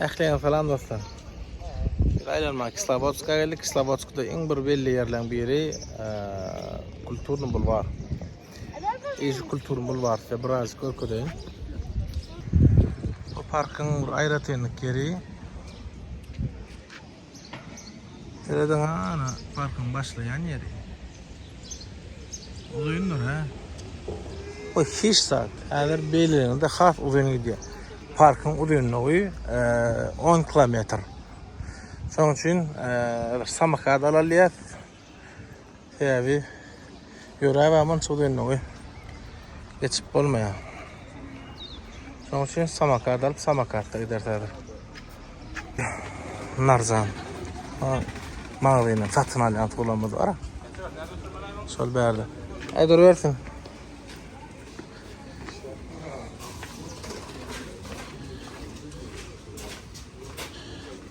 Ähliňe salam dostlar. Bir aýlanma Kislowodska geldik. Kislowodskda iň bir belli ýerleriň biri kulturny bulwar. Eýş kulturny bulwar size biraz görkezeýin. Bu parkyň bir aýratynlyk ýeri. Serede ha ana parkyň başlaýan ýeri. Uzyndyr ha. O hiç zat. Häzir beýlelerinde has uzyn gidýär. Parkyň uzynlygy 10 kilometr. Şonuň üçin bir samokat alalýar. Täbi ýöräp aman çyk dönügi geçip bolmaýar. Şoň üçin samakad alyp samakatda gider täbi. Narzan. Magzyny satyn alýan tulamyz bar. Şol bärde. Aý dur bersin.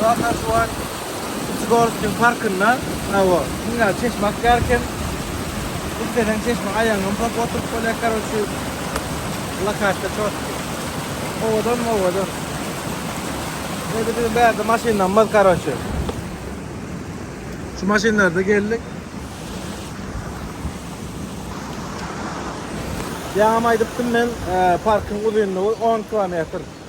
Bu ata şu an Zgorskiň parkynda, hawa, dünýä çeşme akýar eken. Isleseň çeşmä aýagyňy ymsap oturyp bolýar, karoçi, lokasiýa çotky. Owadan, owadan. Indi biziň bärde maşynlarymyz, karoçi. Şu maşynlarda geldik. Ýaňam aýdypdym men, parkyň uzynlygy on kilometr.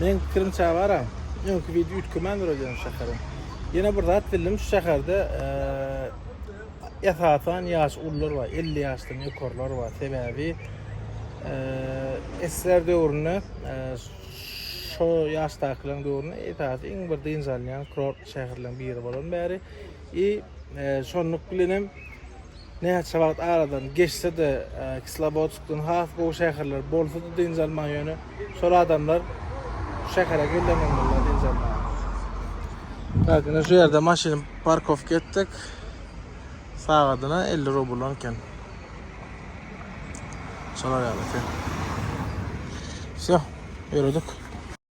Men pikirimçe bara, öňki video üýtgemän duralýar şu şäherim. Ýene bir zat bildim, şu şäherde esasan ýaş ullar bar, 50 ýaşdan ýokarlar bar. Sebäbi esler döwründe şo ýaşdakylaryň döwründe esasy iň bir dynç alýan kurort şäherleriň biri bolan bäri. I şonluk bilen hem Näçe wagt aradan geçse-de, Kislowodskdan has gowy şäherler bolsa-da dynç alman, ýöne şol adamlar şu şähere gelenden bolýar dynç almaga. Tak, ine şu ýerde maşyny parkowka etdik. Sagadyna elli rubl eken. Şolar ýaly eken. Wsýo, ýöredik.